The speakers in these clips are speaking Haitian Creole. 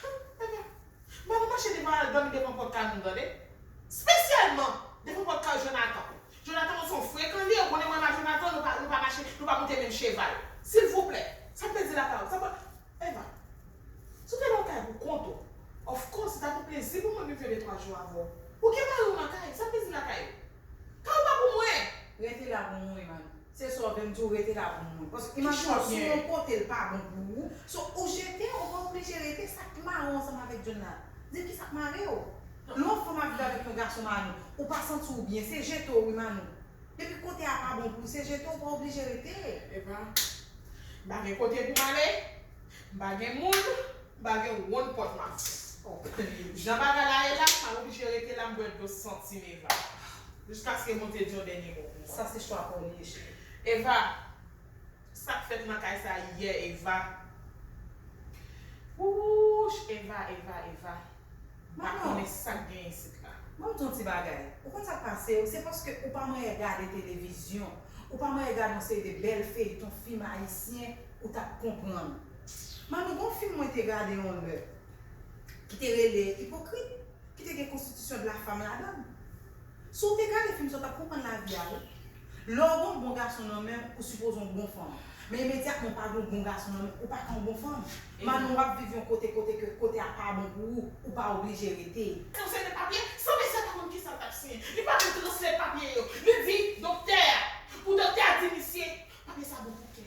Humm Eva Bon nou mache devan al dòmi devan pòt kay moun tande Spesyalman devan pòt kay Jonathan Jonathan ou son frekan liye ou konnen mwen ma Jonathan nou pa nou pa mache nou pa monte menm cheval silvouplè Sa m te di la pa sa m pa Eva Si w te nan yon kay pou kont ou Of course se t ap yon plezi pou mwen vin fè de twa jou avè w Ou gen mari w nan kay Sa m te di lakay ou Kay ou pa pou mwen Rete la pou mwen man. Se sa w vle m di w rete la pou mwen. Paske imajine w si w yon kote l pa bon pou ou, so ou jete ou pa oblije rete sa k mare w ansanm avèk John la? Di m ki sa k mare w? Lè yon fanm ap viv avèk yon gason Manou, ou pa santi w byen, se jete w wi Manou. Depi kote a pa bon pou w se jete ou pa oblije rete. Epa m pa gen kote pou m ale, m pa gen moun. M pa gen wonn pòt map fè. Jan bagay la ye la, sa oblije rete la m bwè dlo santim Eva. Jiskaske moun te di yon dènye mo pou mwen. Sa se chwa paw li ye cheri. Eva, sak fèt nan kay sa yè Eva. Wouch Eva Eva Eva. M pa konnen sak gen isit la. Banm di yon ti bagay, ou konn sak pasew, se paske ou pa manyen gade televizyon, ou pa manyen gade yon seri de bèl feyton fim ayisyen ou tap konprann. Manu gon film mwen te gade yon lè ki te rele ipokrit ki te gen konstitisyon de la femme ladann si w te gade film sa w tap konprann lavi a wi lè w gen yon bon gason nan menw ou sipoze yon bon fanm men imedyatman w pa gen yon bon gason nan menw ou pa ka yon bon fanm Manu wap viv yon kote kote ke kote a pa bon pou ou ou pa oblije rete. Translate papye, san mesye a pa konn kisa l tap siyen, li pa vle translate papye yo, li di doktè a, pou doktè a di misye, papye sa bon pou kè.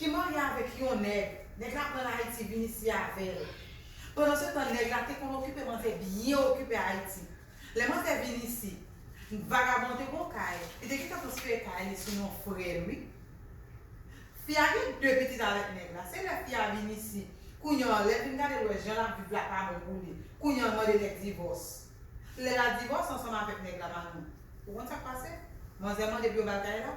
Ki marye avèk yon nèg, nèg la pranl ayiti vin isi avèl. Pandan se tan nèg la te konn okipe man te byen okipe ayiti. Lè man te vin isi, vagabon te gon kay, li te gentan transfere kay li sou non frèl wi. Fi a gen 2 pitit avèk nèg la, se lè fi a vin isi, kounye an lèl vin gadel wè jan lap viv la pa bon pou li, kounye an mande nèg divòs. Lè la divòs ansanm avèk nèg la manou. Ou konn sak pase? Manzè mande pou yo bal kay la.